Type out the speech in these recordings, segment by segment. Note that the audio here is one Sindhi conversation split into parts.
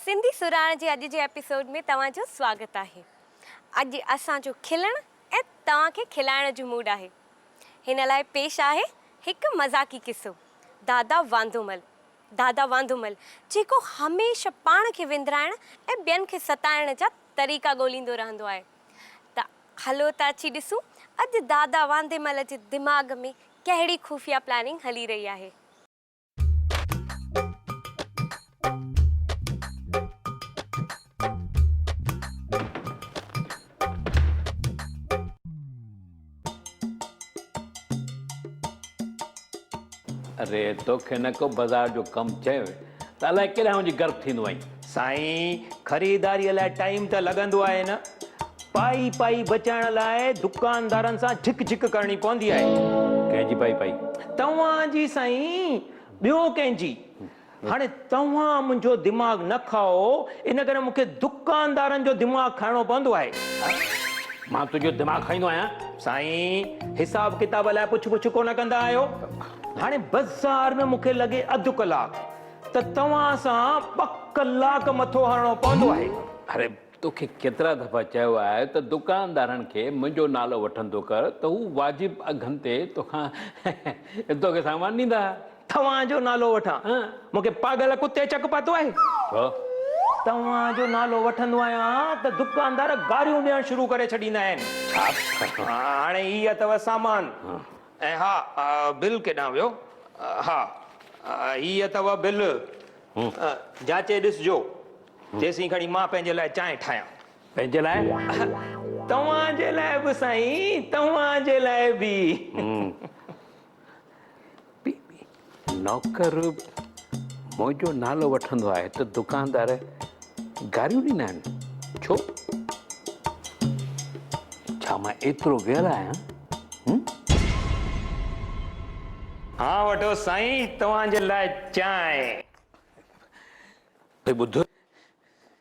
سنڌي سرهاڻ جي اڄ جي ايپيسوڊ ۾ توهان جو سواگت آهي. اڄ اسان جو کلڻ ۽ توهان کي کلائڻ جو موڊ آهي. هن لاء پيش آهي هڪ مذاقي قصو دادا واندومل دادا واندومل جيڪو هميشه پاڻ کي وندرائڻ ۽ ٻين کي ستائڻ جا طريقا ڳوليندو رهندو آهي ته هلو ته اچي ڏسون اڄ دادا وانديمل جي دماغ ۾ ڪهڙي خفيه پلاننگ هلي رهي آهي. اري توکي نه ڪو بازار جو ڪم چيو ته الائي ڪيڏانهن وڃي غرق ٿيندو آهين سائين خريداري لاء ٽائيم ته لڳندو آهي نه پائي پائي بچائڻ لاء دڪاندارن سان جھڪ جھڪ ڪرڻي پوندي آهي. ڪنهن جي پائي پائي؟ توهان جي سائين ٻيو ڪنهن جي. هاڻي توهان منهنجو دماغ نه کائو ان ڪري مون کي دڪاندارن جو دماغ کائڻو پوندو آهي. مان تنهنجو دماغ کائيندو آهيان؟ سائين حساب ڪتاب لاء پڇ پڇ ڪونه ڪندا آهيو. هاڻي بزار ۾ مون کي لڳي اڌ ڪلاڪ ته توهان سان ٻه ڪلاڪ مٿو هڻڻو پوندو آهي. اري توکي ڪيترا دفعا چيو آهي ته دڪاندارن کي منهنجو نالو وٺندو ڪر ته هو واجب اگهن تي توکان توکي سامان ڏيندا. توهان جو نالو وٺان؟ مون کي پاڳل ڪتي چڪ پاتو آهي. ڇو؟ توهان جو نالو وٺندو آهيان ته دڪاندار گاريون ڏيڻ شروع ڪري ڇڏيندا آهن. ڇا؟ هاڻي هي اٿو سامان. ۽ ها بل ڪيڏانهن ويو؟ ها هي اٿو بل، جاچي ڏسجو، تيسين کڻي مان پنهنجي لاء چانهه ٺاهيان. پنهنجي لاء؟ توهان جي لاء به سائين، توهان جي لاء به. نوڪر منهنجو نالو وٺندو آهي ته دڪاندار گاريون ڏيندا آهن ڇو؟ ڇا مان ايترو ويل آهيان؟ ها وٺو سائين توهان جي لاء چانهه. ڀئي ٻڌ.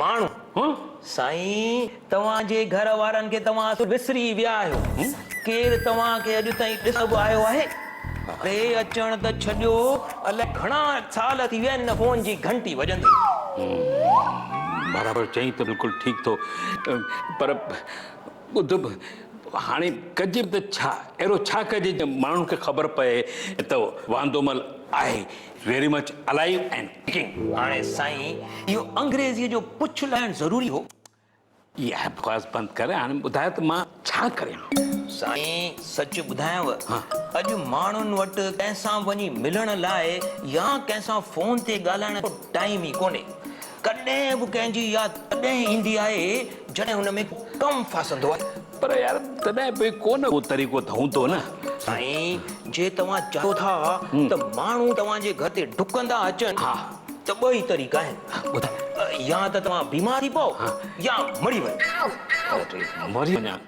ماڻهو، هون، سائين! توهان جي گهر وارن کي توهان اصل وسري ئي ويا آهيو. هون. ڪير توهان کي اڄ تائين ڏسڻ به آيو آهي؟ ڙي اچڻ ته ڇڏيو، الائي گهڻا سال ٿي ويا هن فون جي گهنٽي وڄندي. هون، برابر چئين ته بلڪل ٺيڪ ٿو. پر ٻڌ به، هاڻي ڪجي به ته ڇا؟ اهڙو ڇا ڪجي جو ماڻهن کي خبر پئي ته واندومل آهي؟ Very much alive and cooking. هاڻي سائين اهو انگريزيء جو پڇ لائڻ ضروري هو؟ اها بڪواس بند ڪر هاڻي ٻڌاء ته مان ڇا ڪريان؟ سائين سچ ٻڌايانو اڄ ماڻهن وٽ ڪنهن سان وڃي ملڻ لاء يا ڪنهن سان فون تي ڳالهائڻ جو ٽائيم ئي ڪونهي. ڪڏهن به ڪنهن جي ياد تڏهن ايندي آهي جڏهن ان ۾ ڪم ڦاسندو آهي. پر يار تڏهن به ڪو نه ڪو طريقو ته هوندو نه. سائين جي توهان چاهيو ٿا ته ماڻهو توهان جي گهر تي ڊڪندا اچن ته ٻه ئي طريقا آهن. يا ته توهان بيمار ٿي پئو يا مري وڃو. مري وڃان؟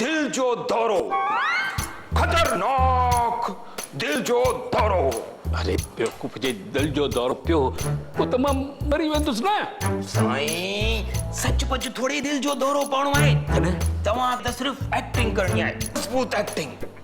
دل جو دورو خطرناڪ دل جو دورو. اري بيوقوف جي دل جو دورو پيو هو ته مان مري ويندس نه. سائين سچ پچ ٿوري دل جو دورو پوڻو آهي. تڏهن توهان کي ته صرف ايڪٽنگ ڪرڻي آهي مضبوط ايڪٽنگ.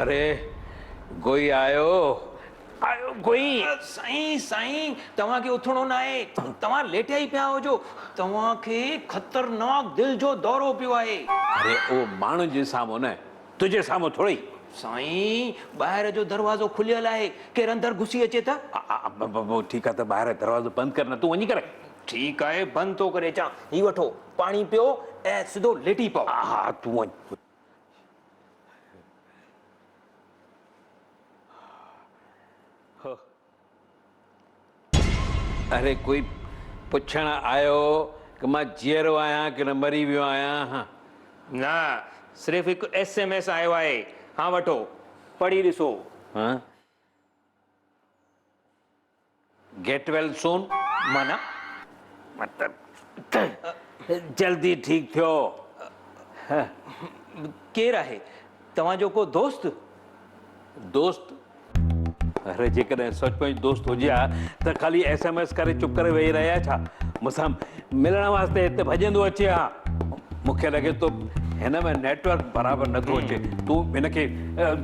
اري گوئي آيو آيو گوئي. سائين سائين توهان کي اٿڻو ناهي توهان ليٽيا ئي پيا هجو توهان کي خطرناڪ دل جو دورو پيو آهي. اري اهو ماڻهن جي سامهون نه تنهنجي سامهون ٿورئي. سائين! ٻاهر جو دروازو کليل آهي، ڪير اندر گهسي اچي ته. ابابابا ٺيڪ آهي ته ٻاهر جو دروازو بند ڪر نه تون وڃي ڪر. ٺيڪ آهي بند ٿو ڪري اچان. هي وٺو پاڻي پيو ۽ سڌو ليٽي پئو. ها ها تون وڃ. اڙي ڪوئي پڇڻ آيو ڪه مان جيئرو آهيان ڪنه مري ويو آهيان هه. نه صرف هڪ ايس ايم ايس آيو آهي ها وٺو پڙهي ڏسو. هه گيٽ ويل سون معنيٰ مطلب ته جلدي ٺيڪ ٿيو هه. ڪير آهي؟ توهان جو ڪو دوست؟ دوست؟ اري جيڪڏهن سچ پچ دوست هجي ها ته خالي ايس ايم ايس ڪري چپ ڪري ويهي رهي ها ڇا؟ مون سان ملڻ واسطي هتي ڀڄندو اچي ها. مون کي لڳي ٿو هن ۾ نيٽ ورڪ برابر نٿو اچي. تون هن کي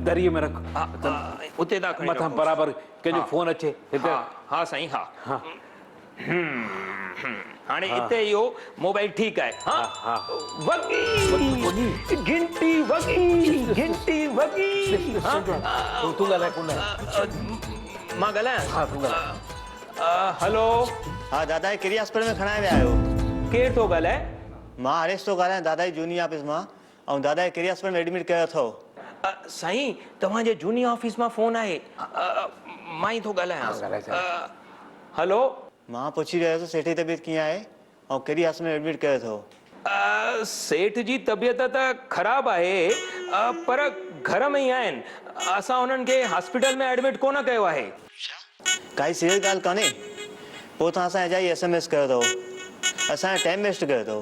دريء ۾ رک. اتي تان کڻي رکوس. مٿان برابر ڪنهن جو فون اچي. ها ها سائين ها. هم هاڻي اتي اهو موبائل ٺيڪ آهي ها وڳي گهنٽي وڳي گهنٽي وڳي تون ڳالهاء ڪونه مان ڳالهايان ها تون ڳالهاء هلو ها دادا هي ڪهڙي هاسپيٽل ۾ کڻائي ويا آهيو ڪير ٿو ڳالهائي مان هريش ٿو ڳالهايان دادا جي جهوني آفيس مان آئون دادا کي ڪهڙي هاسپيٽل ۾ ايڊمٽ ڪيو اٿئو. سائين توهان جي جهوني آفيس مان فون آهي مان ئي ٿو ڳالهايان هلو. مان پڇي رهيو هوس سيٺ جي طبيعت ڪيئن آهي آئون ڪهڙي هاسپيٽل ۾ ايڊمٽ ڪيو اٿئو. سيٺ جي طبيعت ته خراب آهي پر گهر ۾ ئي آهن اسان انهن کي هاسپيٽل ۾ ايڊمٽ ڪونه ڪيو آهي. اڇا ڪائي سيريس ڳالهه ڪانهي پوء توهان اسان اجائي ايس ايم ايس ڪيو اٿئو اسان جو ٽائيم ويسٽ ڪيو اٿئو.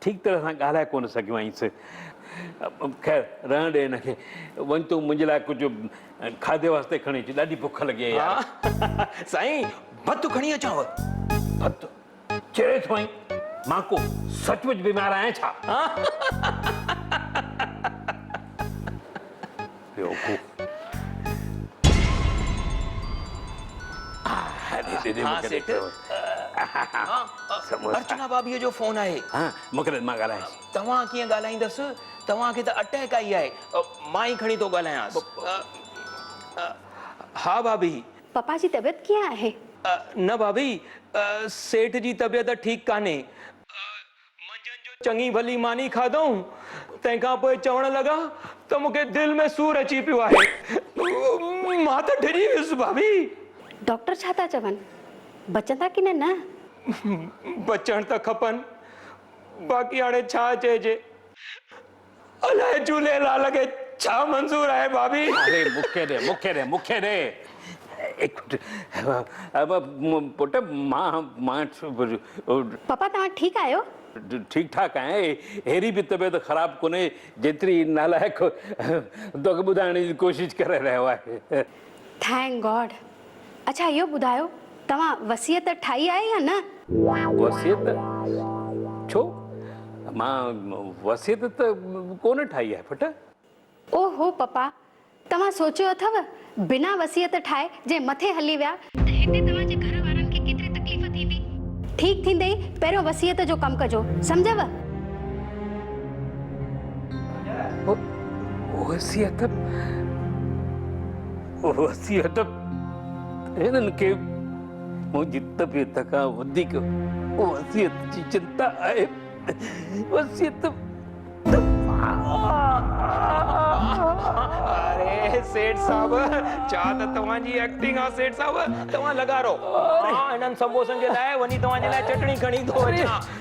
ٺيڪ طرح سان ڳالهائي ڪونه سگهيو آهيس. خير رهڻ ڏي هن کي. وڃ تون منهنجي لاء ڪجهه کاڌي واسطي کڻي اچ. ڏاڍي بک لڳي آهي يار. سائين ڀت کڻي اچانو؟ ڀت؟ چري ٿو آهين؟ مان ڪو سچ پچ بيمار آهيان ڇا؟ بيوقوف. ها سيٺ. ارچنا ڀاڀيء جو فون آهي. ها مقرر مان ڳالهايان ٿي. توهان ڪيئن ڳالهائيندس؟ توهان کي ته اٽيڪ آئي آهي. مان ئي کڻي ٿو ڳالهايانس. ها ڀاڀي. پپا جي طبيعت ڪيئن آهي؟ نه ڀاڀي. سيٺ جي طبيعت ٺيڪ ڪانهي. منجهند جو چڱي ڀلي ماني کاڌائون، تنهن کان پوء چوڻ لڳا ته مون کي دل ۾ سور اچي پيو آهي. مان ته ڊڄي ويس ڀاڀي! ڊاڪٽر ڇا ٿا چون؟ بچندا ڪنهن نه؟ بچڻ ته کپن، باقي هاڻي ڇا چئجي؟ الائي جھولي لال کي ڇا منظور آھي بابي. اري مون کي ڏي مون کي ڏي مون کي ڏي. پٽ مان مان ڇو. پاپا توھان ٺيڪ آھيو. ٺيڪ ٺاڪ آھيان اھڙي به طبيعت خراب ڪونھي جيتري ھي نالائق توکي ٻڌائڻ جي ڪوشش ڪري رھيو آھي. ٿينڪ گاڊ اڇا اهو ٻڌايو توهان وصيت ٺاهي آهي يا نه؟ وصيت ڇو مان وصيت ته ڪونه ٺاهي آهي پٽ. او هو پپا توهان سوچيو اٿو بنا وصيت ٺاهي جي مٿي هلي ويا ته هتي توهان جي گهر وارن کي ڪيتري تڪليف ٿيندي. ٺيڪ ٿيندي پهريون وصيت جو ڪم ڪجو سمجهيو. وصيت وصيت هنن کي منهنجي طبيعت کان وڌيڪ وصيت جي چنتا آهي وصيت اري سيٺ صاحب ڇا ته توهان جي ايڪٽنگ آ سيٺ صاحب توهان لڳا رهو مان هنن سمبوسن جي لاء وڃي توهان جي لاء چٽڻي کڻي ٿو اچان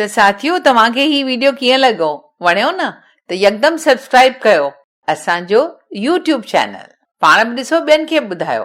ته ساٿيو توهان کي هي ويڊيو ڪيئن لڳو وڻيو نه ته يڪدم سبسڪرائب ڪيو اسان جو يوٽيوب چينل پاڻ به ڏسو ٻين کي به ٻڌايو